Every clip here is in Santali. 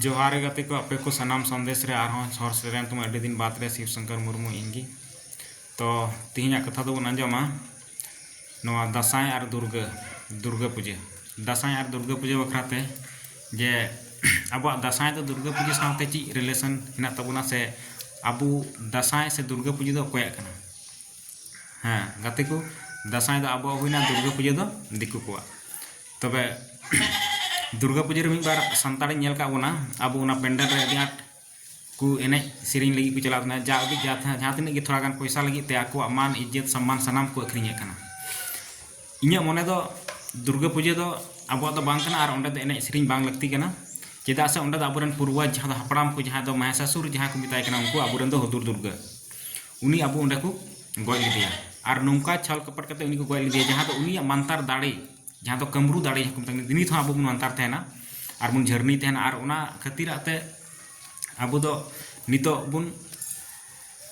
ᱡᱚᱦᱟᱨ ᱜᱟᱛᱮ ᱠᱚ ᱟᱯᱮ ᱠᱚ ᱥᱟᱱᱟᱢ ᱥᱟᱸᱫᱮᱥ ᱨᱮ ᱟᱨᱦᱚᱸ ᱦᱚᱨ ᱥᱮᱴᱮᱨᱮᱱ ᱛᱟᱢᱟ ᱟᱹᱰᱤ ᱫᱤᱱ ᱵᱟᱫᱽ ᱨᱮ ᱥᱤᱵ ᱥᱚᱝᱠᱚᱨ ᱢᱩᱨᱢᱩ ᱤᱧ ᱜᱮ ᱛᱚ ᱛᱮᱦᱮᱧᱟᱜ ᱠᱟᱛᱷᱟ ᱫᱚ ᱵᱚᱱ ᱟᱸᱡᱚᱢᱟ ᱱᱚᱣᱟ ᱫᱟᱸᱥᱟᱭ ᱟᱨ ᱫᱩᱨᱜᱟᱹ ᱫᱩᱨᱜᱟᱹ ᱯᱩᱡᱟᱹ ᱫᱟᱸᱥᱟᱭ ᱟᱨ ᱫᱩᱨᱜᱟᱹ ᱯᱩᱡᱟᱹ ᱵᱟᱠᱷᱨᱟ ᱛᱮ ᱡᱮ ᱟᱵᱚᱣᱟᱜ ᱫᱟᱸᱥᱟᱭ ᱫᱚ ᱫᱩᱨᱜᱟᱹ ᱯᱩᱡᱟᱹ ᱥᱟᱶᱛᱮ ᱪᱮᱫ ᱨᱤᱞᱮᱥᱚᱱ ᱦᱮᱱᱟᱜ ᱛᱟᱵᱚᱱᱟ ᱥᱮ ᱟᱵᱚ ᱫᱟᱸᱥᱟᱭ ᱥᱮ ᱫᱩᱨᱜᱟᱹ ᱯᱩᱡᱟᱹ ᱫᱚ ᱚᱠᱚᱭᱟᱜ ᱠᱟᱱᱟ ᱦᱮᱸ ᱜᱟᱛᱮ ᱠᱚ ᱫᱟᱸᱥᱟᱭ ᱫᱚ ᱟᱵᱚᱣᱟᱜ ᱦᱩᱭᱱᱟ ᱫᱩᱨᱜᱟᱹ ᱯᱩᱡᱟᱹ ᱫᱚ ᱫᱤᱠᱩ ᱠᱚᱣᱟᱜ ᱛᱚᱵᱮ ᱫᱩᱨᱜᱟ ᱯᱩᱡᱟᱹ ᱨᱮ ᱢᱤᱫ ᱵᱟᱨ ᱥᱟᱱᱛᱟᱲᱤᱧ ᱧᱮᱞ ᱠᱟᱜ ᱵᱚᱱᱟ ᱟᱵᱚ ᱚᱱᱟ ᱯᱮᱱᱰᱮᱞ ᱨᱮ ᱟᱹᱰᱤ ᱟᱸᱴ ᱠᱚ ᱮᱱᱮᱡ ᱥᱮᱨᱮᱧ ᱞᱟᱹᱜᱤᱫ ᱠᱚ ᱪᱟᱞᱟᱜ ᱠᱟᱱᱟ ᱡᱟ ᱩᱰᱤᱡ ᱡᱟᱦᱟᱸ ᱛᱤᱱᱟᱹᱜ ᱜᱮ ᱛᱷᱚᱲᱟ ᱜᱟᱱ ᱯᱚᱭᱥᱟ ᱞᱟᱹᱜᱤᱫ ᱛᱮ ᱟᱠᱚᱣᱟᱜ ᱢᱟᱱ ᱤᱡᱽᱡᱚᱛ ᱥᱚᱱᱢᱟᱱ ᱥᱟᱱᱟᱢ ᱠᱚ ᱟᱹᱠᱷᱨᱤᱧᱮᱫ ᱠᱟᱱᱟ ᱤᱧᱟᱹᱜ ᱢᱚᱱᱮ ᱫᱚ ᱫᱩᱨᱜᱟ ᱯᱩᱡᱟᱹ ᱫᱚ ᱟᱵᱚᱣᱟᱜ ᱫᱚ ᱵᱟᱝ ᱠᱟᱱᱟ ᱟᱨ ᱚᱸᱰᱮ ᱫᱚ ᱮᱱᱮᱡ ᱥᱮᱨᱮᱧ ᱵᱟᱝ ᱞᱟᱹᱠᱛᱤ ᱠᱟᱱᱟ ᱪᱮᱫᱟᱜ ᱥᱮ ᱚᱸᱰᱮ ᱫᱚ ᱟᱵᱚᱨᱮᱱ ᱯᱩᱨᱵᱚᱡᱽ ᱡᱟᱦᱟᱸ ᱫᱚ ᱦᱟᱯᱲᱟᱢ ᱠᱚ ᱡᱟᱦᱟᱸ ᱫᱚ ᱢᱟᱦᱮᱥᱟᱥᱩᱨ ᱡᱟᱦᱟᱸ ᱠᱚ ᱢᱮᱛᱟᱭ ᱠᱟᱱᱟ ᱩᱱᱠᱩ ᱟᱵᱚᱨᱮᱱ ᱫᱚ ᱦᱩᱫᱩᱲ ᱫᱩᱨᱜᱟ ᱩᱱᱤ ᱟᱵᱚ ᱚᱸᱰᱮ ᱠᱚ ᱜᱚᱡ ᱞᱮᱫᱮᱭᱟ ᱟᱨ ᱱᱚᱝᱠᱟ ᱪᱷᱚᱞ ᱠᱚᱯᱚᱴ ᱠᱟᱛᱮ ᱩᱱᱤ ᱠᱚ ᱜᱚᱡ ᱞᱮᱫᱮᱭᱟ ᱡᱟᱦᱟᱸ ᱫᱚ ᱩᱱᱤᱭᱟᱜ ᱢᱟᱱᱛᱟᱨ ᱫᱟᱲᱮ ᱡᱟᱦᱟᱸ ᱫᱚ ᱠᱟᱹᱢᱨᱩ ᱫᱟᱲᱮ ᱡᱟᱦᱟᱸ ᱠᱚ ᱢᱮᱛᱟᱜ ᱠᱟᱱᱟ ᱱᱤᱛ ᱦᱚᱸ ᱟᱵᱚ ᱵᱚᱱ ᱟᱱᱛᱟᱨ ᱛᱟᱦᱮᱱᱟ ᱟᱨ ᱵᱚᱱ ᱡᱷᱟᱹᱨᱱᱤ ᱛᱟᱦᱮᱱᱟ ᱟᱨ ᱚᱱᱟ ᱠᱷᱟᱹᱛᱤᱨᱟᱜ ᱛᱮ ᱟᱵᱚ ᱫᱚ ᱱᱤᱛᱚᱜ ᱵᱚᱱ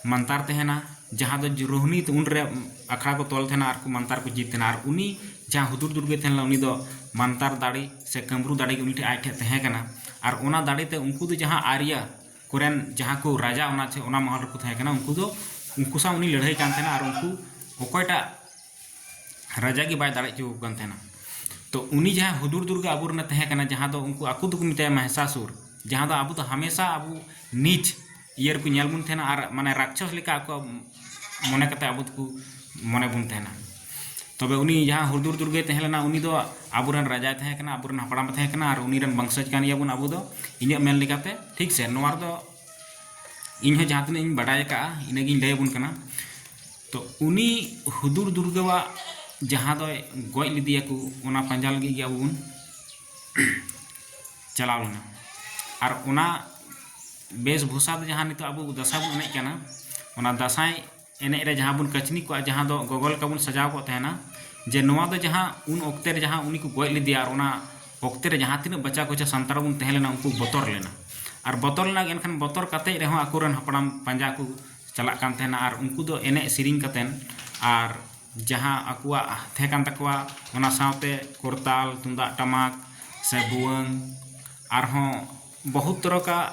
ᱢᱟᱱᱛᱟᱨ ᱛᱟᱦᱮᱱᱟ ᱡᱟᱦᱟᱸ ᱫᱚ ᱨᱳᱦᱱᱤ ᱩᱱ ᱨᱮ ᱟᱠᱷᱲᱟ ᱠᱚ ᱛᱚᱞ ᱛᱟᱦᱮᱱᱟ ᱟᱨ ᱠᱚ ᱢᱟᱱᱛᱟᱨ ᱠᱚ ᱡᱤᱛ ᱛᱟᱦᱮᱱᱟ ᱟᱨ ᱩᱱᱤ ᱡᱟᱦᱟᱸ ᱦᱩᱫᱩᱲ ᱫᱩᱨᱜᱟᱹᱭ ᱛᱟᱦᱮᱸ ᱞᱮᱱᱟ ᱩᱱᱤ ᱫᱚ ᱢᱟᱱᱛᱟᱨ ᱫᱟᱲᱮ ᱥᱮ ᱠᱟᱹᱢᱨᱩ ᱫᱟᱲᱮ ᱜᱮ ᱩᱱᱤ ᱴᱷᱮᱱ ᱟᱡ ᱴᱷᱮᱱ ᱛᱟᱦᱮᱸ ᱠᱟᱱᱟ ᱟᱨ ᱚᱱᱟ ᱫᱟᱲᱮ ᱛᱮ ᱩᱱᱠᱩ ᱫᱚ ᱡᱟᱦᱟᱸ ᱟᱨᱭᱟ ᱠᱚᱨᱮᱱ ᱡᱟᱦᱟᱸ ᱠᱚ ᱨᱟᱡᱟ ᱚᱱᱟ ᱪᱮ ᱚᱱᱟ ᱢᱚᱦᱚᱞ ᱨᱮᱠᱚ ᱛᱟᱦᱮᱸ ᱠᱟᱱᱟ ᱩᱱᱠᱩ ᱫᱚ ᱩᱱᱠᱩ ᱥᱟᱶ ᱩᱱᱤ ᱞᱟᱹᱲᱦᱟᱹᱭ ᱠᱟᱱ ᱛᱟᱦᱮᱱᱟ ᱟᱨ ᱩᱱᱠᱩ ᱚᱠᱚᱭᱴᱟᱜ ᱨᱟᱡᱟ ᱜᱮ ᱵᱟᱭ ᱫᱟᱲᱮ ᱦᱚᱪᱚ ᱟᱠᱚ ᱠᱟᱱ ᱛᱟᱦᱮᱱᱟ ᱛᱚ ᱩᱱᱤ ᱡᱟᱦᱟᱸ ᱦᱩᱫᱩᱲ ᱫᱩᱨᱜᱟ ᱟᱵᱚ ᱨᱮᱱᱮ ᱛᱟᱦᱮᱸ ᱠᱟᱱᱟ ᱡᱟᱦᱟᱸ ᱫᱚ ᱩᱱᱠᱩ ᱟᱠᱚ ᱫᱚᱠᱚ ᱢᱮᱛᱟᱭᱟ ᱢᱟᱦᱮᱥᱟᱥᱩᱨ ᱡᱟᱦᱟᱸ ᱫᱚ ᱟᱵᱚ ᱫᱚ ᱦᱟᱢᱮᱥᱟ ᱟᱵᱚ ᱱᱤᱡ ᱤᱭᱟᱹ ᱨᱮᱠᱚ ᱧᱮᱞ ᱵᱚᱱ ᱛᱟᱦᱮᱱᱟ ᱟᱨ ᱢᱟᱱᱮ ᱨᱟᱠᱪᱷᱚᱥ ᱞᱮᱠᱟ ᱟᱠᱚ ᱢᱚᱱᱮ ᱠᱟᱛᱮ ᱟᱵᱚ ᱫᱚᱠᱚ ᱢᱚᱱᱮ ᱵᱚᱱ ᱛᱟᱦᱮᱱᱟ ᱛᱚᱵᱮ ᱩᱱᱤ ᱡᱟᱦᱟᱸ ᱦᱩᱫᱩᱲ ᱫᱩᱨᱜᱟᱹᱭ ᱛᱟᱦᱮᱸ ᱞᱮᱱᱟ ᱩᱱᱤ ᱫᱚ ᱟᱵᱚ ᱨᱮᱱ ᱨᱟᱡᱟᱭ ᱛᱟᱦᱮᱸ ᱠᱟᱱᱟ ᱟᱵᱚ ᱨᱮᱱ ᱦᱟᱯᱲᱟᱢ ᱛᱟᱦᱮᱸ ᱠᱟᱱᱟ ᱟᱨ ᱩᱱᱤ ᱨᱮᱱ ᱵᱚᱝᱥᱚᱡᱽ ᱠᱟᱱ ᱜᱮᱭᱟ ᱵᱚᱱ ᱟᱵᱚ ᱫᱚ ᱤᱧᱟᱹᱜ ᱢᱮᱱ ᱞᱮᱠᱟᱛᱮ ᱴᱷᱤᱠ ᱥᱮ ᱱᱚᱣᱟ ᱨᱮᱫᱚ ᱤᱧ ᱦᱚᱸ ᱡᱟᱦᱟᱸ ᱛᱤᱱᱟᱹᱜ ᱤᱧ ᱵᱟᱰᱟᱭ ᱟᱠᱟᱫᱼᱟ ᱤᱱᱟᱹᱜᱤᱧ ᱞᱟᱹᱭ ᱟᱵᱚᱱ ᱠᱟᱱᱟ ᱛᱚ ᱩᱱᱤ ᱦᱩᱫᱩᱲ ᱫᱩᱨᱜᱟᱹᱣᱟᱜ ᱡᱟᱦᱟᱸ ᱫᱚᱭ ᱜᱚᱡ ᱞᱮᱫᱮᱭᱟ ᱠᱚ ᱚᱱᱟ ᱯᱟᱸᱡᱟ ᱞᱟᱹᱜᱤᱫ ᱜᱮ ᱟᱵᱚ ᱵᱚᱱ ᱪᱟᱞᱟᱣ ᱞᱮᱱᱟ ᱟᱨ ᱚᱱᱟ ᱵᱮᱥ ᱵᱷᱩᱥᱟ ᱫᱚ ᱡᱟᱦᱟᱸ ᱱᱤᱛᱚᱜ ᱟᱵᱚ ᱫᱟᱸᱥᱟᱭ ᱵᱚᱱ ᱮᱱᱮᱡ ᱠᱟᱱᱟ ᱚᱱᱟ ᱫᱟᱸᱥᱟᱭ ᱮᱱᱮᱡ ᱨᱮ ᱡᱟᱦᱟᱸ ᱵᱚᱱ ᱠᱟᱹᱪᱱᱤ ᱠᱚᱜᱼᱟ ᱡᱟᱦᱟᱸ ᱫᱚ ᱜᱚᱜᱚ ᱞᱮᱠᱟ ᱵᱚᱱ ᱥᱟᱡᱟᱣ ᱠᱚᱜ ᱛᱟᱦᱮᱱᱟ ᱡᱮ ᱱᱚᱣᱟ ᱫᱚ ᱡᱟᱦᱟᱸ ᱩᱱ ᱚᱠᱛᱮ ᱨᱮ ᱡᱟᱦᱟᱸ ᱩᱱᱤ ᱠᱚ ᱜᱚᱡ ᱞᱮᱫᱮᱭᱟ ᱟᱨ ᱚᱱᱟ ᱚᱠᱛᱮ ᱨᱮ ᱡᱟᱦᱟᱸ ᱛᱤᱱᱟᱹᱜ ᱵᱟᱪᱟ ᱠᱚᱪᱟ ᱥᱟᱱᱛᱟᱲ ᱵᱚᱱ ᱛᱟᱦᱮᱸ ᱞᱮᱱᱟ ᱩᱱᱠᱩ ᱵᱚᱛᱚᱨ ᱞᱮᱱᱟ ᱟᱨ ᱵᱚᱛᱚᱨ ᱞᱮᱱᱟ ᱮᱱᱠᱷᱟᱱ ᱵᱚᱛᱚᱨ ᱠᱟᱛᱮ ᱨᱮᱦᱚᱸ ᱟᱠᱚᱨᱮᱱ ᱦᱟᱯᱲᱟᱢ ᱯᱟᱸᱡᱟ ᱠᱚ ᱪᱟᱞᱟᱜ ᱠᱟᱱ ᱛᱟᱦᱮᱱᱟ ᱟᱨ ᱩᱱᱠᱩ ᱫᱚ ᱮᱱᱮᱡ ᱥᱮᱨᱮᱧ ᱠᱟᱛᱮᱱ ᱟᱨ ᱡᱟᱦᱟᱸ ᱟᱠᱚᱣᱟᱜ ᱛᱟᱦᱮᱸ ᱠᱟᱱ ᱛᱟᱠᱚᱣᱟ ᱚᱱᱟ ᱥᱟᱶᱛᱮ ᱠᱚᱨᱛᱟᱞ ᱛᱩᱢᱫᱟᱜ ᱴᱟᱢᱟᱠ ᱥᱮ ᱵᱷᱩᱣᱟᱹᱝ ᱟᱨᱦᱚᱸ ᱵᱚᱦᱩᱛ ᱛᱚᱨᱚᱠᱟᱜ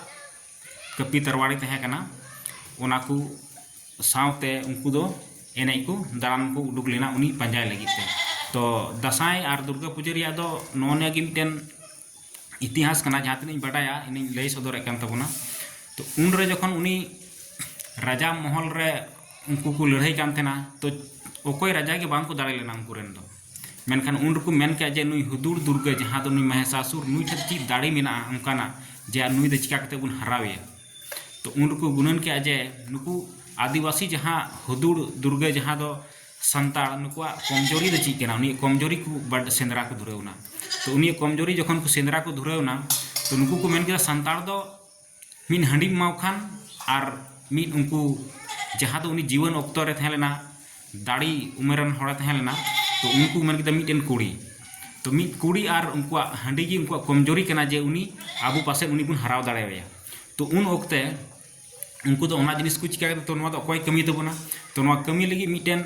ᱠᱟᱹᱯᱤ ᱛᱟᱨᱣᱟᱲᱤ ᱛᱟᱦᱮᱸ ᱠᱟᱱᱟ ᱚᱱᱟ ᱠᱚ ᱥᱟᱶᱛᱮ ᱩᱱᱠᱩ ᱫᱚ ᱮᱱᱮᱡ ᱠᱚ ᱫᱟᱬᱟᱱ ᱠᱚ ᱩᱰᱩᱠ ᱞᱮᱱᱟ ᱩᱱᱤ ᱯᱟᱸᱡᱟᱭ ᱞᱟᱹᱜᱤᱫ ᱛᱮ ᱛᱚ ᱫᱟᱸᱥᱟᱭ ᱟᱨ ᱫᱩᱨᱜᱟᱹ ᱯᱩᱡᱟᱹ ᱨᱮᱭᱟᱜ ᱫᱚ ᱱᱚᱜᱼᱚ ᱱᱤᱭᱟᱹ ᱜᱮ ᱢᱤᱫᱴᱮᱱ ᱤᱛᱤᱦᱟᱥ ᱠᱟᱱᱟ ᱡᱟᱦᱟᱸ ᱛᱤᱱᱟᱹᱜ ᱤᱧ ᱵᱟᱰᱟᱭᱟ ᱤᱧᱤᱧ ᱞᱟᱹᱭ ᱥᱚᱫᱚᱨᱮᱫ ᱠᱟᱱ ᱛᱟᱵᱚᱱᱟ ᱛᱚ ᱩᱱᱨᱮ ᱡᱚᱠᱷᱚᱱ ᱩᱱᱤ ᱨᱟᱡᱟ ᱢᱚᱦᱚᱞ ᱨᱮ ᱩᱱᱠᱩ ᱠᱚ ᱞᱟᱹᱲᱦᱟᱹᱭ ᱠᱟᱱ ᱛᱟᱦᱮᱱᱟ ᱛᱚ ᱚᱠᱚᱭ ᱨᱟᱡᱟ ᱜᱮ ᱵᱟᱝ ᱠᱚ ᱫᱟᱲᱮ ᱞᱮᱱᱟ ᱩᱱᱠᱩ ᱨᱮᱱ ᱫᱚ ᱢᱮᱱᱠᱷᱟᱱ ᱩᱱ ᱨᱮᱠᱚ ᱢᱮᱱ ᱠᱮᱫᱟ ᱡᱮ ᱱᱩᱭ ᱦᱩᱫᱩᱲ ᱫᱩᱨᱜᱟᱹ ᱡᱟᱦᱟᱸ ᱫᱚ ᱱᱩᱭ ᱢᱚᱦᱮᱥᱟᱥᱩᱨ ᱱᱩᱭ ᱴᱷᱮᱱ ᱪᱮᱫ ᱫᱟᱲᱮ ᱢᱮᱱᱟᱜᱼᱟ ᱚᱱᱠᱟᱱᱟᱜ ᱡᱮ ᱱᱩᱭ ᱫᱚ ᱪᱤᱠᱟ ᱠᱟᱛᱮ ᱵᱚᱱ ᱦᱟᱨᱟᱣᱮᱭᱟ ᱛᱚ ᱩᱱ ᱨᱮᱠᱚ ᱜᱩᱱᱟᱹᱱ ᱠᱮᱫᱟ ᱡᱮ ᱱᱩᱠᱩ ᱟᱹᱫᱤᱵᱟᱹᱥᱤ ᱡᱟᱦᱟᱸ ᱦᱩᱫᱩᱲ ᱫᱩᱨᱜᱟᱹ ᱡᱟᱦᱟᱸ ᱫᱚ ᱥᱟᱱᱛᱟᱲ ᱱᱩᱠᱩᱣᱟᱜ ᱠᱚᱢᱡᱚᱨᱤ ᱫᱚ ᱪᱮᱫ ᱠᱟᱱᱟ ᱩᱱᱤᱭᱟᱜ ᱠᱚᱢᱡᱚᱨᱤ ᱠᱚ ᱵᱟᱰ ᱥᱮᱸᱫᱽᱨᱟ ᱠᱚ ᱫᱷᱩᱨᱟᱹᱣ ᱮᱱᱟ ᱛᱚ ᱩᱱᱤᱭᱟᱜ ᱠᱚᱢᱡᱚᱨᱤ ᱡᱚᱠᱷᱚᱱ ᱠᱚ ᱥᱮᱸᱫᱽᱨᱟ ᱠᱚ ᱫᱷᱩᱨᱟᱹᱣ ᱮᱱᱟ ᱛᱚ ᱱᱩᱠᱩ ᱠᱚ ᱢᱮᱱ ᱠᱮᱫᱟ ᱥᱟᱱᱛᱟᱲ ᱫᱚ ᱢᱤᱫ ᱦᱟᱺᱰᱤᱢ ᱮᱢᱟᱣ ᱠᱷᱟᱱ ᱟᱨ ᱢᱤᱫ ᱩᱱᱠᱩ ᱡᱟᱦᱟᱸ ᱫᱚ ᱩᱱᱤ ᱡᱤᱣᱟᱹᱱ ᱚᱠᱛᱚ ᱨᱮ ᱛᱟᱦᱮᱸ ᱞᱮᱱᱟ ᱫᱟᱲᱮ ᱩᱢᱮᱨ ᱨᱮᱱ ᱦᱚᱲᱮ ᱛᱟᱦᱮᱸ ᱞᱮᱱᱟ ᱛᱚ ᱩᱱᱠᱩ ᱢᱮᱱ ᱠᱮᱫᱟ ᱢᱤᱫᱴᱮᱱ ᱠᱩᱲᱤ ᱛᱚ ᱢᱤᱫ ᱠᱩᱲᱤ ᱟᱨ ᱩᱱᱠᱩᱣᱟᱜ ᱦᱟᱺᱰᱤ ᱜᱮ ᱩᱱᱠᱩᱣᱟᱜ ᱠᱚᱢᱡᱚᱨᱤ ᱠᱟᱱᱟ ᱡᱮ ᱩᱱᱤ ᱟᱵᱚ ᱯᱟᱥᱮᱡ ᱩᱱᱤ ᱵᱚᱱ ᱦᱟᱨᱟᱣ ᱫᱟᱲᱮᱣᱟᱭᱟ ᱛᱚ ᱩᱱ ᱚᱠᱛᱮ ᱩᱱᱠᱩ ᱫᱚ ᱚᱱᱟ ᱡᱤᱱᱤᱥ ᱠᱚ ᱪᱤᱠᱟᱹ ᱠᱮᱫᱟ ᱛᱚ ᱱᱚᱣᱟ ᱫᱚ ᱚᱠᱚᱭ ᱠᱟᱹᱢᱤ ᱛᱟᱵᱚᱱᱟ ᱛᱚ ᱱᱚᱣᱟ ᱠᱟᱹᱢᱤ ᱞᱟᱹᱜᱤᱫ ᱢᱤᱫᱴᱮᱱ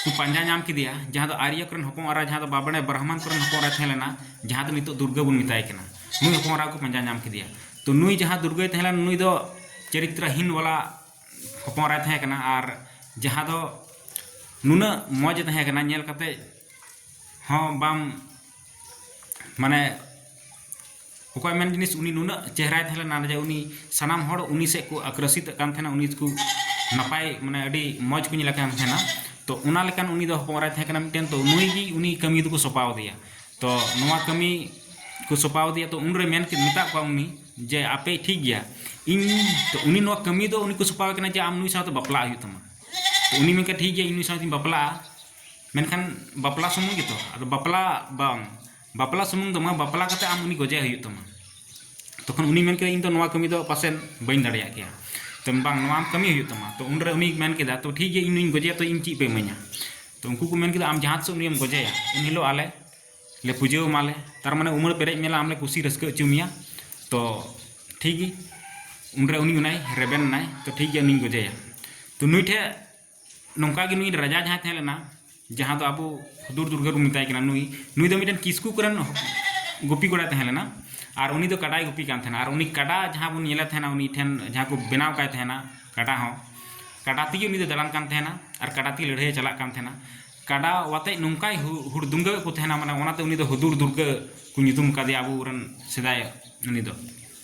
ᱠᱚ ᱯᱟᱸᱡᱟ ᱧᱟᱢ ᱠᱮᱫᱮᱭᱟ ᱡᱟᱦᱟᱸ ᱫᱚ ᱟᱨᱭᱟ ᱠᱚᱨᱮᱱ ᱦᱚᱯᱚᱱ ᱮᱨᱟ ᱡᱟᱦᱟᱸ ᱫᱚ ᱵᱟᱵᱟᱱᱮ ᱵᱨᱟᱦᱢᱟᱱ ᱠᱚᱨᱮᱱ ᱦᱚᱯᱚᱱ ᱮᱨᱟ ᱛᱟᱦᱮᱸ ᱞᱮᱱᱟ ᱡᱟᱦᱟᱸ ᱫᱚ ᱱᱤᱛᱚᱜ ᱫᱩᱨᱜᱟᱹ ᱵᱚᱱ ᱢᱮᱛᱟᱭ ᱠᱟᱱᱟ ᱱᱩᱭ ᱦᱚᱯᱚᱱ ᱮᱨᱟ ᱠᱚ ᱯᱟᱸᱡᱟ ᱧᱟᱢ ᱠᱮᱫᱮᱭᱟ ᱛᱚ ᱱᱩᱭ ᱡᱟᱦᱟᱸ ᱫᱩᱨᱜᱟᱹᱭ ᱛᱟᱦᱮᱸ ᱞᱮᱱᱟ ᱱᱩᱭ ᱫᱚ ᱪᱟᱨᱤᱛᱨᱟᱦᱤᱱ ᱵᱟᱞᱟ ᱦᱚᱯᱚᱱ ᱮᱨᱟᱭ ᱛᱟᱦᱮᱸ ᱠᱟᱱᱟ ᱟᱨ ᱡᱟᱦᱟᱸ ᱫᱚ ᱱᱩᱱᱟᱹᱜ ᱢᱚᱡᱽ ᱮ ᱛᱟᱦᱮᱸ ᱠᱟᱱᱟ ᱧᱮᱞ ᱠᱟᱛᱮᱫ ᱦᱚᱸ ᱵᱟᱢ ᱢᱟᱱᱮ ᱚᱠᱚᱭᱟᱜ ᱢᱮᱱ ᱡᱤᱱᱤᱥ ᱩᱱᱤ ᱱᱩᱱᱟᱹᱜ ᱪᱮᱦᱨᱟᱭ ᱛᱟᱦᱮᱸ ᱞᱮᱱᱟ ᱡᱮ ᱩᱱᱤ ᱥᱟᱱᱟᱢ ᱦᱚᱲ ᱩᱱᱤ ᱥᱮᱫ ᱠᱚ ᱟᱠᱨᱚᱥᱤᱛᱚᱜ ᱠᱟᱱ ᱛᱟᱦᱮᱱᱟ ᱩᱱᱤ ᱫᱚᱠᱚ ᱱᱟᱯᱟᱭ ᱢᱟᱱᱮ ᱟᱹᱰᱤ ᱢᱚᱡᱽ ᱠᱚ ᱧᱮᱞᱮ ᱠᱟᱱ ᱛᱟᱦᱮᱱᱟ ᱛᱚ ᱚᱱᱟ ᱞᱮᱠᱟᱱ ᱩᱱᱤ ᱫᱚ ᱦᱚᱯᱚᱱ ᱮᱨᱟᱭ ᱛᱟᱦᱮᱸ ᱠᱟᱱᱟ ᱢᱤᱫᱴᱮᱱ ᱛᱚ ᱱᱩᱭ ᱜᱮ ᱩᱱᱤ ᱠᱟᱹᱢᱤ ᱫᱚᱠᱚ ᱥᱚᱸᱯᱟᱣᱟᱫᱮᱭᱟ ᱛᱚ ᱱᱚᱣᱟ ᱠᱟᱹᱢᱤ ᱠᱚ ᱥᱚᱸᱯᱟᱣᱟᱫᱮᱭᱟ ᱛᱚ ᱩᱱᱨᱮ ᱢᱮᱱ ᱠᱮᱫ ᱢᱮᱛᱟᱫ ᱠᱚᱣᱟ ᱩᱱᱤ ᱡᱮ ᱟᱯᱮ ᱴᱷᱤᱠ ᱜᱮᱭᱟ ᱤᱧ ᱛᱚ ᱩᱱᱤ ᱱᱚᱣᱟ ᱠᱟᱹᱢᱤ ᱫᱚ ᱩᱱᱤ ᱠᱚ ᱥᱚᱸᱯᱟᱣᱟᱭ ᱠᱟᱱᱟ ᱡᱮ ᱟᱢ ᱱᱩᱭ ᱥᱟᱶᱛᱮ ᱵᱟᱯᱞᱟᱜ ᱦᱩᱭᱩᱜ ᱛᱟᱢᱟ ᱛᱚ ᱩᱱᱤ ᱢᱮᱱ ᱠᱮᱫᱟᱭ ᱴᱷᱤᱠ ᱜᱮᱭᱟ ᱤᱧ ᱱᱩᱭ ᱥᱟᱶᱛᱮᱧ ᱵᱟᱯᱞᱟᱜᱼᱟ ᱢᱮᱱᱠᱷᱟᱱ ᱵᱟᱯᱞᱟ ᱥᱩᱢᱩᱝ ᱜᱮᱛᱚ ᱟᱫᱚ ᱵᱟᱯᱞᱟ ᱵᱟᱝ ᱵᱟᱯᱞᱟ ᱥᱩᱢᱩᱝ ᱫᱚ ᱵᱟᱝ ᱵᱟᱯᱞᱟ ᱠᱟᱛᱮ ᱟᱢ ᱩᱱᱤ ᱜᱚᱡᱮ ᱦᱩᱭᱩᱜ ᱛᱟᱢᱟ ᱛᱚᱠᱷᱚᱱ ᱩᱱᱤ ᱢᱮᱱ ᱠᱮᱫᱟ ᱤᱧ ᱫᱚ ᱱᱚᱣᱟ ᱠᱟᱹᱢᱤ ᱫᱚ ᱯᱟᱥᱮᱱ ᱵᱟᱹᱧ ᱫᱟᱲᱮᱭᱟᱜ ᱠᱮᱭᱟ ᱛᱚ ᱵᱟᱝ ᱱᱚᱣᱟ ᱟᱢ ᱠᱟᱹᱢᱤ ᱦᱩᱭᱩᱜ ᱛᱟᱢᱟ ᱛᱚ ᱩᱱ ᱨᱮ ᱩᱱᱤ ᱢᱮᱱ ᱠᱮᱫᱟ ᱛᱚ ᱴᱷᱤᱠ ᱜᱮᱭᱟ ᱤᱧ ᱱᱩᱭᱤᱧ ᱜᱚᱡᱮᱭᱟ ᱛᱚ ᱤᱧ ᱪᱮᱫ ᱯᱮ ᱤᱢᱟᱹᱧᱟ ᱛᱚ ᱩᱱᱠᱩ ᱠᱚ ᱢᱮᱱ ᱠᱮᱫᱟ ᱟᱢ ᱡᱟᱦᱟᱸ ᱛᱤᱥᱚᱜ ᱩᱱᱤᱭᱮᱢ ᱜᱚᱡᱮᱭᱟ ᱩᱱ ᱦᱤᱞᱳᱜ ᱟᱞᱮ ᱞᱮ ᱯᱩᱡᱟᱹ ᱟᱢᱟᱞᱮ ᱛᱟᱨ ᱢᱟᱱᱮ ᱩᱢᱟᱹᱲ ᱯᱮᱨᱮᱡ ᱢᱮᱞᱟ ᱟᱢ ᱞᱮ ᱠᱩᱥᱤ ᱨᱟᱹᱥᱠᱟᱹ ᱦᱚᱪᱚ ᱢᱮᱭᱟ ᱛᱚ ᱴᱷᱤᱠ ᱜᱮ ᱩᱱ ᱨᱮ ᱩᱱᱤ ᱚᱱᱟᱭ ᱨᱮᱵᱮᱱ ᱮᱱᱟᱭ ᱛᱚ ᱴᱷᱤᱠ ᱜᱮᱭᱟ ᱩᱱᱤᱧ ᱜᱚᱡᱮᱭᱟ ᱛᱚ ᱱᱩᱭ ᱴᱷᱮᱱ ᱱᱚᱝᱠᱟ ᱜᱮ ᱱᱩᱭ ᱨᱟᱡᱟ ᱡᱟᱦᱟᱸᱭ ᱛᱟᱦᱮᱸ ᱞᱮᱱᱟ ᱡᱟᱦᱟᱸ ᱫᱚ ᱟᱵᱚ ᱦᱩᱫᱩᱲ ᱫᱩᱨᱜᱟᱹ ᱵᱚᱱ ᱢᱮᱛᱟᱭ ᱠᱟᱱᱟ ᱱᱩᱭ ᱱᱩᱭ ᱫᱚ ᱢᱤᱫᱴᱮᱱ ᱠᱤᱥᱠᱩ ᱠᱚᱨᱮᱱ ᱜᱩᱯᱤ ᱠᱚᱲᱟᱭ ᱛᱟᱦᱮᱸ ᱞᱮᱱᱟ ᱟᱨ ᱩᱱᱤ ᱫᱚ ᱠᱟᱰᱟᱭ ᱜᱩᱯᱤ ᱠᱟᱱ ᱛᱟᱦᱮᱱᱟ ᱟᱨ ᱩᱱᱤ ᱠᱟᱰᱟ ᱡᱟᱦᱟᱸ ᱵᱚᱱ ᱧᱮᱞᱮ ᱛᱟᱦᱮᱱᱟ ᱩᱱᱤ ᱴᱷᱮᱱ ᱡᱟᱦᱟᱸ ᱠᱚ ᱵᱮᱱᱟᱣ ᱠᱟᱭ ᱛᱟᱦᱮᱱᱟ ᱠᱟᱰᱟ ᱦᱚᱸ ᱠᱟᱰᱟ ᱛᱮᱜᱮ ᱩᱱᱤ ᱫᱚ ᱫᱟᱬᱟᱱ ᱠᱟᱱ ᱛᱟᱦᱮᱱᱟ ᱟᱨ ᱠᱟᱰᱟ ᱛᱮᱜᱮ ᱞᱟᱹᱲᱦᱟᱹᱭᱮ ᱪᱟᱞᱟᱜ ᱠᱟᱱ ᱛᱟᱦᱮᱱᱟ ᱠᱟᱰᱟ ᱟᱛᱮᱫ ᱱᱚᱝᱠᱟᱭ ᱦᱩᱲᱫᱩᱝᱜᱟᱹ ᱠᱚ ᱛᱟᱦᱮᱱᱟ ᱢᱟᱱᱮ ᱚᱱᱟᱛᱮ ᱩᱱᱤ ᱫᱚ ᱦᱩᱫᱩᱲ ᱫᱩᱨᱜᱟᱹ ᱠᱚ ᱧᱩᱛᱩᱢ ᱠᱟᱫᱮᱭᱟ ᱟᱵᱚ ᱨᱮᱱ ᱥᱮᱫᱟᱭ ᱩᱱᱤ ᱫᱚ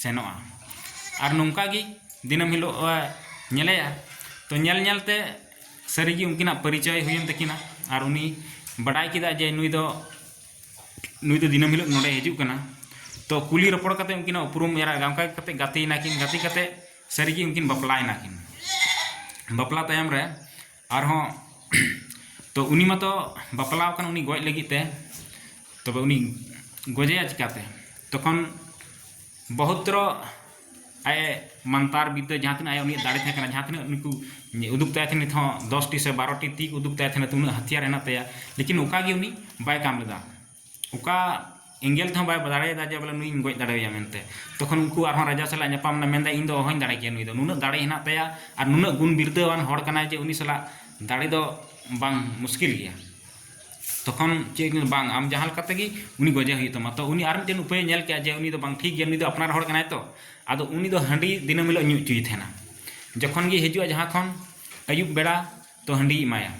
ᱥᱮᱱᱚᱜᱼᱟ ᱟᱨ ᱱᱚᱝᱠᱟ ᱜᱮ ᱫᱤᱱᱟᱹᱢ ᱦᱤᱞᱳᱜ ᱧᱮᱞᱮᱭᱟ ᱛᱚ ᱧᱮᱞ ᱧᱮᱞ ᱛᱮ ᱥᱟᱹᱨᱤ ᱜᱮ ᱩᱱᱠᱤᱱᱟᱜ ᱯᱚᱨᱤᱪᱚᱭ ᱦᱩᱭᱮᱱ ᱛᱟᱹᱠᱤᱱᱟ ᱟᱨ ᱩᱱᱤ ᱵᱟᱰᱟᱭ ᱠᱮᱫᱟᱭ ᱡᱮ ᱱᱩᱭ ᱫᱚ ᱱᱩᱭ ᱫᱚ ᱫᱤᱱᱟᱹᱢ ᱦᱤᱞᱳᱜ ᱱᱚᱰᱮᱭ ᱦᱤᱡᱩᱜ ᱠᱟᱱᱟ ᱛᱚ ᱠᱩᱞᱤ ᱨᱚᱯᱚᱲ ᱠᱟᱛᱮ ᱩᱱᱠᱤᱱᱟᱜ ᱩᱯᱨᱩᱢ ᱮᱨᱟ ᱚᱱᱠᱟ ᱠᱟᱛᱮ ᱜᱟᱛᱮᱭᱮᱱᱟ ᱠᱤᱱ ᱜᱟᱛᱮ ᱠᱟᱛᱮ ᱥᱟᱹᱨᱤ ᱜᱮ ᱩᱱᱠᱤᱱ ᱵᱟᱯᱞᱟᱭᱮᱱᱟ ᱠᱤᱱ ᱵᱟᱯᱞᱟ ᱛᱟᱭᱚᱢ ᱨᱮ ᱟᱨᱦᱚᱸ ᱛᱚ ᱩᱱᱤ ᱢᱟᱛᱚ ᱵᱟᱯᱞᱟ ᱟᱠᱟᱱ ᱩᱱᱤ ᱜᱚᱡ ᱞᱟᱹᱜᱤᱫ ᱛᱮ ᱛᱚᱵᱮ ᱩᱱᱤ ᱜᱚᱡᱮᱭᱟ ᱪᱤᱠᱟᱹᱛᱮ ᱛᱚᱠᱷᱚᱱ ᱵᱚᱦᱩᱛᱨᱚ ᱟᱡ ᱮ ᱢᱟᱱᱛᱟᱨ ᱵᱤᱫᱽᱫᱟᱹ ᱡᱟᱦᱟᱸ ᱛᱤᱱᱟᱹᱜ ᱟᱭᱟᱜ ᱩᱱᱤᱭᱟᱜ ᱫᱟᱲᱮ ᱛᱟᱦᱮᱸ ᱠᱟᱱᱟ ᱡᱟᱦᱟᱸ ᱛᱤᱱᱟᱹᱜ ᱩᱱᱠᱩ ᱩᱫᱩᱜ ᱛᱟᱭ ᱛᱟᱦᱮᱸᱫ ᱱᱤᱛ ᱦᱚᱸ ᱫᱚᱥᱴᱤ ᱥᱮ ᱵᱟᱨᱚᱴᱤ ᱛᱤ ᱩᱫᱩᱜ ᱛᱟᱭ ᱛᱟᱦᱮᱸᱫ ᱩᱱᱟᱹᱜ ᱦᱟᱹᱛᱭᱟᱹᱨ ᱦᱮᱱᱟᱜ ᱛᱟᱭᱟ ᱞᱮᱠᱤᱱ ᱚᱠᱟ ᱜᱮ ᱩᱱᱤ ᱵᱟᱭ ᱠᱟᱢ ᱞᱮᱫᱟ ᱚᱠᱟ ᱮᱸᱜᱮᱞ ᱛᱮᱦᱚᱸ ᱵᱟᱭ ᱫᱟᱲᱮᱭᱟᱫᱟ ᱡᱮ ᱵᱚᱞᱮ ᱱᱩᱭᱤᱧ ᱜᱚᱡ ᱫᱟᱲᱮᱭᱟᱭᱟ ᱢᱮᱱᱛᱮ ᱛᱚᱠᱷᱚᱱ ᱩᱱᱠᱩ ᱟᱨᱦᱚᱸ ᱨᱟᱡᱟ ᱥᱟᱞᱟᱜ ᱧᱟᱯᱟᱢ ᱮᱱᱟᱭ ᱢᱮᱱᱫᱟᱭ ᱤᱧᱫᱚ ᱚᱦᱚᱧ ᱫᱟᱲᱮ ᱠᱮᱭᱟ ᱱᱩᱭᱫᱚ ᱱᱩᱱᱟᱹᱜ ᱫᱟᱲᱮ ᱦᱮᱱᱟᱜ ᱛᱟᱭᱟ ᱟᱨ ᱱᱩᱱᱟᱹᱜ ᱜᱩᱱ ᱵᱤᱨᱫᱟᱹᱣᱟᱱ ᱦᱚᱲ ᱠᱟᱱᱟᱭ ᱡᱮ ᱩᱱᱤ ᱥᱟᱞᱟᱜ ᱫᱟᱲᱮ ᱫᱚ ᱵᱟᱝ ᱢᱩᱥᱠᱤᱞ ᱜᱮᱭᱟ ᱛᱚᱠᱷᱚᱱ ᱪᱮᱫ ᱮ ᱢᱮᱱᱫᱟ ᱵᱟᱝ ᱟᱢ ᱡᱟᱦᱟᱸ ᱞᱮᱠᱟ ᱛᱮᱜᱮ ᱩᱱᱤ ᱜᱚᱡᱮ ᱦᱩᱭᱩᱜ ᱛᱟᱢᱟ ᱛᱚ ᱩᱱᱤ ᱟᱨ ᱢᱤᱫᱴᱮᱱ ᱩᱯᱟᱹᱭᱮ ᱧᱮᱞ ᱠᱮᱫᱟ ᱡᱮ ᱩᱱᱤ ᱫᱚ ᱵᱟᱝ ᱴᱷᱤᱠ ᱜᱮᱭᱟ ᱱᱩᱭ ᱫᱚ ᱟᱯᱱᱟᱨ ᱦᱚᱲ ᱠᱟᱱᱟᱭ ᱛᱚ ᱟᱫᱚ ᱩᱱᱤ ᱫᱚ ᱦᱟᱺᱰᱤ ᱫᱤᱱᱟᱹᱢ ᱦᱤᱞᱳᱜ ᱧᱩ ᱦᱚᱪᱚᱭᱮ ᱛᱟᱦᱮᱱᱟ ᱡᱚᱠᱷᱚᱱ ᱜᱮ ᱦᱤᱡᱩᱜᱼᱟ ᱡᱟᱦᱟᱸ ᱠᱷᱚᱱ ᱟᱹᱭᱩᱵ ᱵᱮᱲᱟ ᱛᱚ ᱦᱟᱺᱰᱤᱭ ᱮᱢᱟᱭᱟ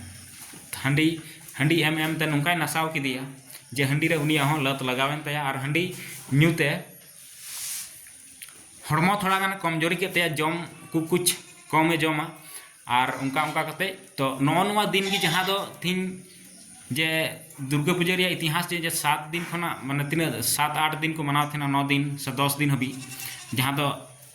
ᱦᱟᱺᱰᱤ ᱦᱟᱺᱰᱤ ᱮᱢ ᱮᱢ ᱛᱮ ᱱᱚᱝᱠᱟᱭ ᱱᱟᱥᱟᱣ ᱠᱮᱫᱮᱭᱟ ᱡᱮ ᱦᱟᱺᱰᱤ ᱨᱮ ᱩᱱᱤᱭᱟᱜ ᱦᱚᱸ ᱞᱟᱛ ᱞᱟᱜᱟᱣᱮᱱ ᱛᱟᱭᱟ ᱟᱨ ᱦᱟᱺᱰᱤ ᱧᱩ ᱛᱮ ᱦᱚᱲᱢᱚ ᱛᱷᱚᱲᱟ ᱜᱟᱱ ᱠᱚᱢᱡᱚᱨᱤ ᱠᱮᱫ ᱛᱟᱭᱟ ᱡᱚᱢ ᱠᱚ ᱠᱩᱪ ᱠᱚᱢᱮ ᱡᱚᱢᱟ ᱟᱨ ᱚᱱᱠᱟ ᱚᱱᱠᱟ ᱠᱟᱛᱮ ᱛᱚ ᱱᱚᱜᱼᱚ ᱱᱚᱣᱟ ᱫᱤᱱ ᱜᱮ ᱡᱟᱦᱟᱸ ᱫᱚ ᱛᱤᱦᱤᱧ ᱡᱮ ᱫᱩᱨᱜᱟᱹ ᱯᱩᱡᱟᱹ ᱨᱮᱭᱟᱜ ᱤᱛᱤᱦᱟᱥ ᱡᱮ ᱥᱟᱛ ᱫᱤᱱ ᱠᱷᱚᱱᱟᱜ ᱢᱟᱱᱮ ᱛᱤᱱᱟᱹᱜ ᱥᱟᱛ ᱟᱴ ᱫᱤᱱ ᱠᱚ ᱢᱟᱱᱟᱣ ᱛᱟᱦᱮᱱᱟ ᱱᱚ ᱫᱤᱱ ᱥᱮ ᱫᱚᱥ ᱫᱤᱱ ᱦᱟᱹᱵᱤᱡ ᱡᱟᱦᱟᱸ ᱫᱚ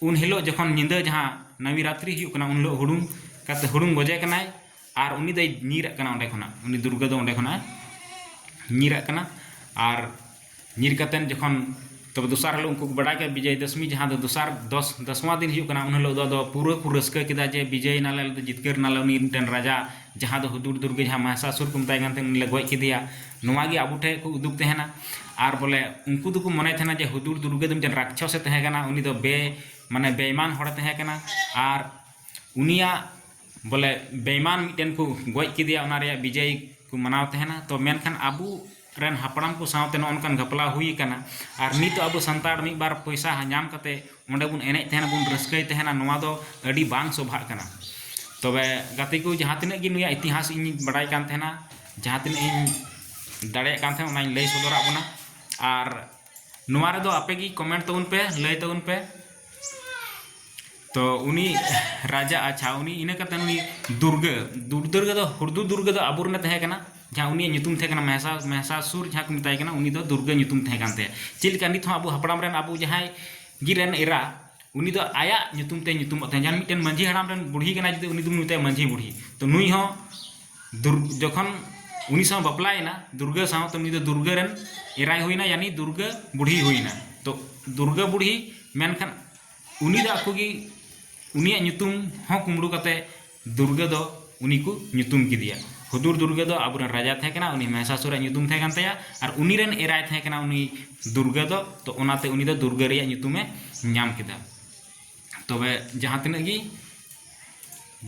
ᱩᱱ ᱦᱤᱞᱳᱜ ᱡᱚᱠᱷᱚᱱ ᱧᱤᱫᱟᱹ ᱡᱟᱦᱟᱸ ᱱᱟᱣᱤ ᱨᱟᱛᱨᱤ ᱦᱩᱭᱩᱜ ᱠᱟᱱᱟ ᱩᱱ ᱦᱤᱞᱳᱜ ᱦᱩᱲᱩᱝ ᱠᱟᱛᱮ ᱦᱩᱲᱩᱝ ᱜᱚᱡᱮ ᱠᱟᱱᱟᱭ ᱟᱨ ᱩᱱᱤ ᱫᱚᱭ ᱧᱤᱨᱟᱜ ᱠᱟᱱᱟ ᱚᱸᱰᱮ ᱠᱷᱚᱱᱟᱜ ᱩᱱᱤ ᱫᱩᱨᱜᱟᱹ ᱫᱚ ᱚᱸᱰᱮ ᱠᱷᱚᱱᱟᱜ ᱧᱤᱨᱟᱜ ᱠᱟᱱᱟ ᱟᱨ ᱧᱤᱨ ᱠᱟᱛᱮ ᱡᱚᱠᱷᱚᱱ ᱛᱚᱵᱮ ᱫᱚᱥᱟᱨ ᱦᱤᱞᱳᱜ ᱩᱱᱠᱩ ᱠᱚ ᱵᱟᱰᱟᱭ ᱠᱮᱫᱟ ᱵᱤᱡᱚᱭ ᱫᱚᱥᱢᱤ ᱡᱟᱦᱟᱸ ᱫᱚ ᱫᱚᱥᱟᱨ ᱫᱚᱥ ᱫᱚᱥᱣᱟ ᱫᱤᱱ ᱦᱩᱭᱩᱜ ᱠᱟᱱᱟ ᱩᱱ ᱦᱤᱞᱳᱜ ᱫᱚ ᱟᱫᱚ ᱯᱩᱨᱟᱹ ᱠᱚ ᱨᱟᱹᱥᱠᱟᱹ ᱠᱮᱫᱟ ᱡᱮ ᱵᱤᱡᱚᱭ ᱮᱱᱟᱞᱮ ᱟᱞᱮ ᱫᱚ ᱡᱤᱛᱠᱟᱹᱨ ᱮᱱᱟᱞᱮ ᱩᱱᱤ ᱢᱤᱫᱴᱮᱱ ᱨᱟᱡᱟ ᱡᱟᱦᱟᱸ ᱫᱚ ᱦᱩᱫᱩᱲ ᱫᱩᱨᱜᱟᱹ ᱡᱟᱦᱟᱸᱭ ᱢᱚᱦᱤᱥᱟᱥᱩᱨ ᱠᱚ ᱢᱮᱛᱟᱭ ᱠᱟᱱ ᱛᱟᱦᱮᱱ ᱩᱱᱤᱞᱮ ᱜᱚᱡ ᱠᱮᱫᱮᱭᱟ ᱱᱚᱣᱟ ᱜᱮ ᱟᱵᱚ ᱴᱷᱮᱱ ᱠᱚ ᱩᱫᱩᱜ ᱛᱟᱦᱮᱱᱟ ᱟᱨ ᱵᱚᱞᱮ ᱩᱱᱠᱩ ᱫᱚᱠᱚ ᱢᱚᱱᱮ ᱛᱟᱦᱮᱱᱟ ᱡᱮ ᱦᱩᱫᱩᱲ ᱫᱩᱨᱜᱟᱹ ᱫᱚ ᱢᱤᱫᱴᱮᱱ ᱨᱟᱠᱪᱷᱚᱥᱮ ᱛᱟᱦᱮᱸ ᱠᱟᱱᱟ ᱩᱱᱤ ᱫᱚ ᱵᱮ ᱢᱟᱱᱮ ᱵᱮᱭᱤᱢᱟᱱ ᱦᱚᱲᱮ ᱛᱟᱦᱮᱸ ᱠᱟᱱᱟ ᱟᱨ ᱩᱱᱤᱭᱟᱜ ᱵᱚᱞᱮ ᱵᱮᱭᱤᱢᱟᱱ ᱢᱤᱫᱴᱮᱱ ᱠᱚ ᱜᱚᱡ ᱠᱮᱫᱮᱭᱟ ᱚᱱᱟ ᱨᱮᱭᱟᱜ ᱵᱤᱡᱚᱭ ᱠᱚ ᱢᱟᱱᱟᱣ ᱛᱟᱦᱮᱱᱟ ᱛᱚ ᱢᱮᱱᱠᱷᱟᱱ ᱟᱵᱚ ᱨᱮᱱ ᱦᱟᱯᱲᱟᱢ ᱠᱚ ᱥᱟᱶᱛᱮ ᱱᱚᱜᱼᱚ ᱱᱚᱝᱠᱟᱱ ᱜᱷᱟᱯᱞᱟᱣ ᱦᱩᱭ ᱟᱠᱟᱱᱟ ᱟᱨ ᱱᱤᱛᱚᱜ ᱟᱵᱚ ᱥᱟᱱᱛᱟᱲ ᱢᱤᱫ ᱵᱟᱨ ᱯᱚᱭᱥᱟ ᱧᱟᱢ ᱠᱟᱛᱮᱫ ᱚᱸᱰᱮ ᱵᱚᱱ ᱮᱱᱮᱡ ᱛᱟᱦᱮᱱᱟ ᱵᱚᱱ ᱨᱟᱹᱥᱠᱟᱹᱭ ᱛᱟᱦᱮᱱᱟ ᱱᱚᱣᱟ ᱫᱚ ᱟᱹᱰᱤ ᱵᱟᱝ ᱥᱚᱵᱷᱟᱜ ᱠᱟᱱᱟ ᱛᱚᱵᱮ ᱜᱟᱛᱮ ᱠᱚ ᱡᱟᱦᱟᱸ ᱛᱤᱱᱟᱹᱜ ᱜᱮ ᱱᱩᱭᱟᱜ ᱤᱛᱤᱦᱟᱥ ᱤᱧᱤᱧ ᱵᱟᱰᱟᱭ ᱠᱟᱱ ᱛᱟᱦᱮᱱᱟ ᱡᱟᱦᱟᱸ ᱛᱤᱱᱟᱹᱜ ᱤᱧ ᱫᱟᱲᱮᱭᱟᱜ ᱠᱟᱱ ᱛᱟᱦᱮᱸᱫ ᱚᱱᱟᱧ ᱞᱟᱹᱭ ᱥᱚᱫᱚᱨᱟᱫ ᱵᱚᱱᱟ ᱟᱨ ᱱᱚᱣᱟ ᱨᱮᱫᱚ ᱟᱯᱮ ᱜᱮ ᱠᱚᱢᱮᱱᱴ ᱛᱟᱵᱚᱱ ᱯᱮ ᱞᱟᱹᱭ ᱛᱟᱵᱚᱱ ᱯᱮ ᱛᱚ ᱩᱱᱤ ᱨᱟᱡᱟ ᱟᱪᱪᱷᱟ ᱩᱱᱤ ᱤᱱᱟᱹ ᱠᱟᱛᱮ ᱩᱱᱤ ᱫᱩᱨᱜᱟᱹ ᱫᱩᱨᱫᱩᱨᱜᱟᱹ ᱫᱚ ᱦᱩᱲᱫᱩ ᱫᱩᱨᱜᱟᱹ ᱫᱚ ᱟᱵᱚ ᱨᱮᱱᱮ ᱛᱟᱦᱮᱸ ᱠᱟᱱᱟ ᱡᱟᱦᱟᱸ ᱩᱱᱤᱭᱟᱜ ᱧᱩᱛᱩᱢ ᱛᱟᱦᱮᱸ ᱠᱟᱱᱟ ᱢᱮᱦᱥᱟ ᱢᱮᱦᱥᱟᱥᱩᱨ ᱡᱟᱦᱟᱸ ᱠᱚ ᱢᱮᱛᱟᱭ ᱠᱟᱱᱟ ᱩᱱᱤ ᱫᱚ ᱫᱩᱨᱜᱟᱹ ᱧᱩᱛᱩᱢ ᱛᱟᱦᱮᱸ ᱠᱟᱱ ᱛᱟᱭᱟ ᱪᱮᱫ ᱞᱮᱠᱟ ᱱᱤᱛ ᱦᱚᱸ ᱟᱵᱚ ᱦᱟᱯᱲᱟᱢ ᱨᱮᱱ ᱟᱵᱚ ᱡᱟᱦᱟᱸᱭ ᱜᱮ ᱨᱮᱱ ᱮᱨᱟ ᱩᱱᱤ ᱫᱚ ᱟᱭᱟᱜ ᱧᱩᱛᱩᱢ ᱛᱮ ᱧᱩᱛᱩᱢᱚᱜ ᱛᱟᱦᱮᱸᱫ ᱡᱟᱦᱟᱸ ᱢᱤᱫᱴᱮᱱ ᱢᱟᱺᱡᱷᱤ ᱦᱟᱲᱟᱢ ᱨᱮᱱ ᱵᱩᱲᱦᱤ ᱠᱟᱱᱟᱭ ᱡᱩᱫᱤ ᱩᱱᱤ ᱫᱚᱵᱚᱱ ᱢᱮᱛᱟᱭᱟ ᱢᱟᱺᱡᱷᱤ ᱵᱩᱲᱦᱤ ᱛᱚ ᱱᱩᱭ ᱦᱚᱸ ᱡᱚᱠᱷᱚᱱ ᱩᱱᱤ ᱥᱟᱶ ᱵᱟᱯᱞᱟᱭᱮᱱᱟ ᱫᱩᱨᱜᱟᱹ ᱥᱟᱶ ᱛᱚ ᱩᱱᱤ ᱫᱚ ᱫᱩᱨᱜᱟᱹ ᱨᱮᱱ ᱮᱨᱟᱭ ᱦᱩᱭᱮᱱᱟ ᱭᱟᱱᱤ ᱫᱩᱨᱜᱟᱹ ᱵᱩᱰᱷᱤ ᱦᱩᱭᱮᱱᱟ ᱛᱚ ᱫᱩᱨᱜᱟᱹ ᱵᱩᱰᱷᱤ ᱢᱮᱱᱠᱷᱟᱱ ᱩᱱᱤ ᱫᱚ ᱟᱠᱚ ᱜᱮ ᱩᱱᱤᱭᱟᱜ ᱧᱩᱛᱩᱢ ᱦᱚᱸ ᱠᱩᱢᱲᱩ ᱠᱟᱛᱮ ᱫᱩᱨᱜᱟᱹ ᱫᱚ ᱩᱱᱤ ᱠᱚ ᱧᱩᱛᱩᱢ ᱠᱮᱫᱮᱭᱟ ᱦᱩᱫᱩᱲ ᱫᱩᱨᱜᱟᱹ ᱫᱚ ᱟᱵᱚ ᱨᱮᱱ ᱨᱟᱡᱟ ᱛᱟᱦᱮᱸ ᱠᱟᱱᱟᱭ ᱩᱱᱤ ᱢᱚᱦᱤᱥᱟᱥᱩᱨ ᱟᱜ ᱧᱩᱛᱩᱢ ᱛᱟᱦᱮᱸ ᱠᱟᱱ ᱛᱟᱭᱟ ᱟᱨ ᱩᱱᱤ ᱨᱮᱱ ᱮᱨᱟᱭ ᱛᱟᱦᱮᱸ ᱠᱟᱱᱟᱭ ᱩᱱᱤ ᱫᱩᱨᱜᱟᱹ ᱫᱚ ᱛᱚ ᱚᱱᱟᱛᱮ ᱩᱱᱤ ᱫᱚ ᱫᱩᱨᱜᱟᱹ ᱨᱮᱭᱟᱜ ᱧᱩᱛᱩᱢᱮ ᱧᱟᱢ ᱠᱮᱫᱟ ᱛᱚᱵᱮ ᱡᱟᱦᱟᱸ ᱛᱤᱱᱟᱹᱜ ᱜᱮ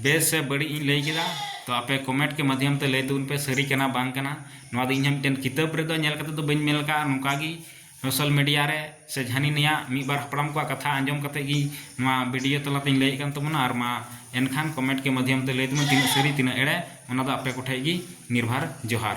ᱵᱮᱥ ᱥᱮ ᱵᱟᱹᱲᱤᱡ ᱤᱧ ᱞᱟᱹᱭ ᱠᱮᱫᱟ ᱛᱚ ᱟᱯᱮ ᱠᱚᱢᱮᱱᱴ ᱠᱮ ᱢᱟᱫᱽᱫᱷᱚᱢ ᱛᱮ ᱞᱟᱹᱭ ᱛᱟᱵᱚᱱ ᱯᱮ ᱥᱟᱹᱨᱤ ᱠᱟᱱᱟ ᱵᱟᱝ ᱠᱟᱱᱟ ᱱᱚᱣᱟ ᱫᱚ ᱤᱧ ᱦᱚᱸ ᱢᱤᱫᱴᱮᱱ ᱠᱤᱛᱟᱹᱵ ᱨᱮᱫᱚ ᱧᱮᱞ ᱠᱟᱛᱮ ᱫᱚ ᱵᱟᱹᱧ ᱢᱮᱱ ᱠᱟᱜᱼᱟ ᱱᱚᱝᱠᱟ ᱜᱮ ᱥᱳᱥᱟᱞ ᱢᱤᱰᱤᱭᱟ ᱨᱮ ᱥᱮ ᱦᱟᱹᱱᱤ ᱱᱤᱭᱟᱜ ᱢᱤᱫ ᱵᱟᱨ ᱦᱟᱯᱲᱟᱢ ᱠᱚᱣᱟᱜ ᱠᱟᱛᱷᱟ ᱟᱸᱡᱚᱢ ᱠᱟᱛᱮ ᱜᱮ ᱱᱚᱣᱟ ᱵᱷᱤᱰᱤᱭᱳ ᱛᱟᱞᱟ ᱛᱤᱧ ᱞᱟᱹᱭᱮᱫ ᱠᱟᱱ ᱛᱟᱵᱚᱱᱟ ᱟᱨ ᱢᱟ ᱮᱱᱠᱷᱟᱱ ᱠᱚᱢᱮᱱᱴ ᱠᱮ ᱢᱟᱫᱽᱫᱷᱚᱢ ᱛᱮ ᱞᱟᱹᱭ ᱛᱟᱵᱚᱱ ᱛᱤᱱᱟᱹᱜ ᱥᱟᱹᱨᱤ ᱛᱤᱱᱟᱹᱜ ᱮᱲᱮ ᱚᱱᱟ ᱫᱚ ᱟᱯᱮ ᱠᱚᱴᱷᱮᱱ ᱜᱮ ᱱᱤᱨᱵᱷᱚᱨ ᱡᱚᱦᱟᱨ